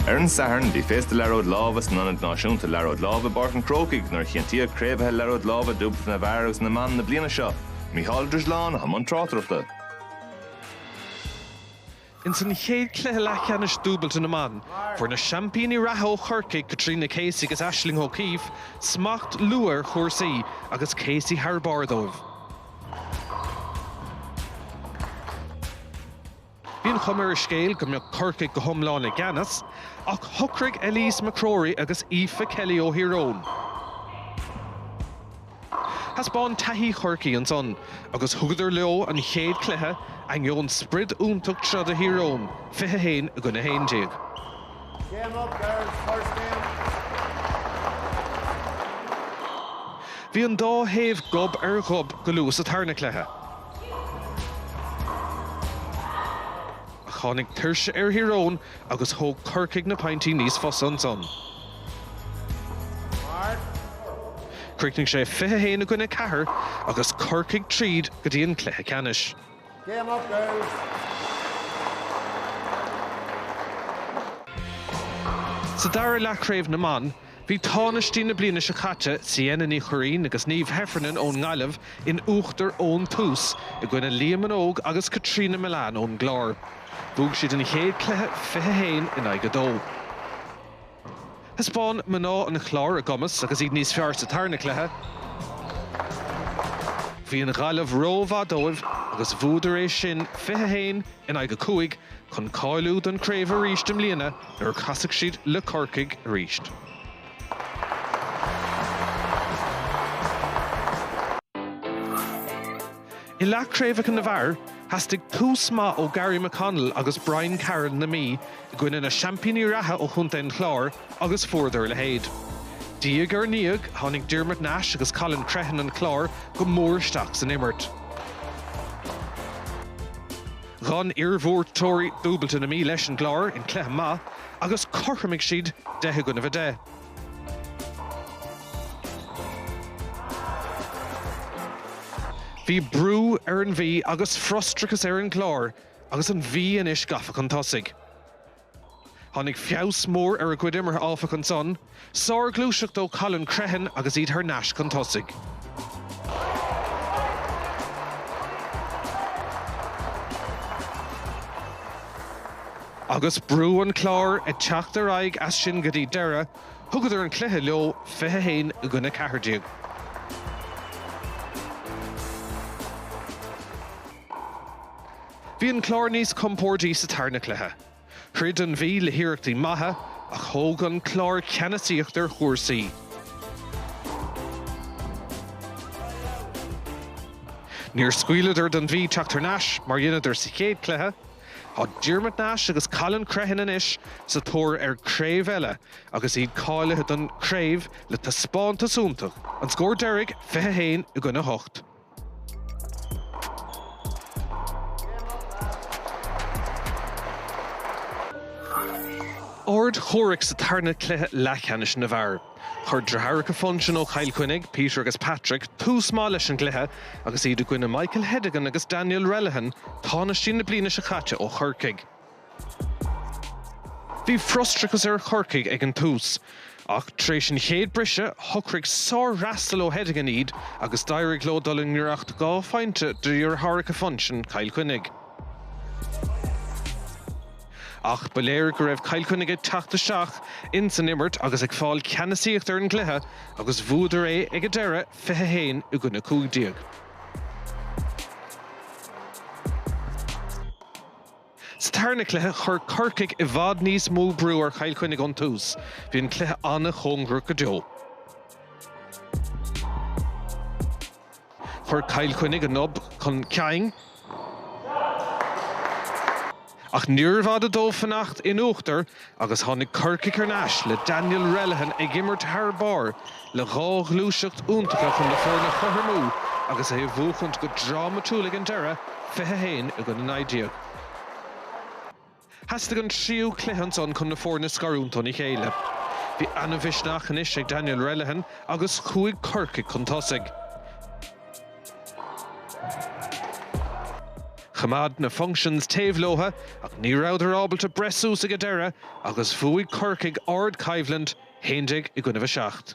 Ar an Satharn, bhí féasta Liathróid Láimhe san Ionad Náisiúnta Liathróid Láimhe i bPáirc an Chrócaigh nuair a chinntíodh craobhaithe Liathróid Láimhe Dúbailte na bhFear agus na mBan na bliana seo, Mícheál Ó Drisleáin i mbun tráchtaireachta. Ins an chéad chluiche leathcheannais dúbailte na mban, fuair na seaimpíní reatha ó Chorcaigh, Caitríona Casey agus Aisling O'Keeffe, smacht luath ar chúrsaí agus Casey thar barr dóibh. Bhí an chuma ar an scéal go mbeadh Corcaigh go hiomlán i gceannas, ach shocraigh Eilise McCrory agus Aoife Kelly ó Thír Eoghain, thaispeáin taithí Chorcaí ansan agus thugadar leo an chéad chluiche, ainneoin sprid iontach troda Thír Eoghain, 21 i gcoinne 11. Bhí an dá thaobh gob ar ghob go luath sa tarna cluiche. Ach tháinig tuirse ar Thír Eoghain agus thóg Corcaigh na pointí níos fusa ansan. Chríochnaigh sé 21 i gcoinne 4 agus Corcaigh tríd go dtí an cluiche ceannais. Game up girls! Sa dara leath craobh na mban, Bhí tánaistí na bliana seo caite, Ciana Ní Churraoin agus Niamh Heffernan ón nGaillimh, in uachtar ón tús i gcoinne Leah Minogue agus Caitríona Millane ón gClár. Bhuaigh siad an chéad cluiche 21 in aghaidh 2. Thaispeáin mná an Chláir a gcumas agus iad níos fearr sa tarna cluiche. Bhí an Ghaillimh rómhaith dóibh agus bhuadar é sin 21 in aghaidh 5 chun cáiliú don chraobh aríst i mbliana. nuair a chasfaidh siad le Corcaigh aríst. I leath craobhacha na bhfear, theastaigh tús maith ó Gary McConnell agus Brian Carroll na Mí i gcoinne na seaimpíní reatha ó Chontae an Chláir agus fuaireadar a leithéid. Diaidh ar ndiaidh, tháinig Diarmuid Nash agus Colin Crehan an Chláir go mór isteach san imirt. Dh'fhan iarbhuaiteoirí dúbailte na Mí leis an gClár in cluiche maith agus chothromaigh siad deich i gcoinnibh a deich. Bhí brú ar an Mhí agus frustrachas ar an gClár agus an Mhí anois gafa chun tosaigh. Tháinig feabhas mór ar a gcuid imeartha áfach ansan, sárghluaiseacht ó Colin Crehan agus iad thar n-ais chun tosaigh. Agus brú an Chláir ag teacht ar aghaidh as sin go dtí deireadh, thugadar an cluiche leo, 21 i gcoinne 14. Bhí an Clár níos compordaí sa tarna cluiche. Throid an Mhí le hiarrachtaí maithe ach thóg an Clár ceannasaíocht ar chúrsaí. Níor scaoileadar don Mhí teacht thar n-ais mar dheineadar sa chéad cluiche. Tá Diarmuid Nash agus Colin Crehan anois sa tóir ar craobh eile agus iad cáilithe don chraobh le taispeántas iontach, an scór deiridh 21 i gcoinne 8. Ard-chomhrac sa tarna cluiche leathcheannais na bhfear. Chuir driotháracha Funchion ó Chill Chainnigh, Peter agus Patrick, tús maith leis an gcluiche agus iad i gcoinne Michael Hedigan agus Daniel Relihan, tánaistí na bliana seo caite ó Chorcaigh. Bhí frustrachas ar Chorcaigh ag an tús, ach tar éis an chéad briseadh, shocraigh sárfhreastal ó Hedigan iad agus d'éirigh leo dul i ngiorracht dhá phointe de dheartháireacha Funchion, Cill Chainnigh. Ach ba léir go raibh Cill Chainnigh ag teacht isteach ins an imirt agus ag fáil ceannasaíocht ar an gcluiche agus bhuadar é ag an deireadh, 21 i gcoinne 15. Sa tarna cluiche, chuir Corcaigh i bhfad níos mó brú ar Chill Chainnigh ón tús. Bhí an cluiche an-chóngarach go deo. Chuir Cill Chainnigh a ngob chun cinn, ach níorbh fhada dóibh fanacht in uachtar Agus tháinig Corcaigh thar n-ais le Daniel Relihan ag imirt thar barr le dhá ghluaiseacht iontacha chun na foirne a chothromú agus é a bhuachaint go drámatúil ag an deireadh, 21 i gcoinne 19. Theastaigh an tríú cluiche ansan chun na foirne a scarúint óna chéile. Bhí an-mhisneach anois ag Daniel Relihan agus chuaigh Corcaigh chun tosaigh. Choimeád na Funchions taobh leotha ach ní rabhadar ábalta breith suas ag an deireadh agus bhuaigh Corcaigh ardchoimhlint 11 i gcoinnibh 7.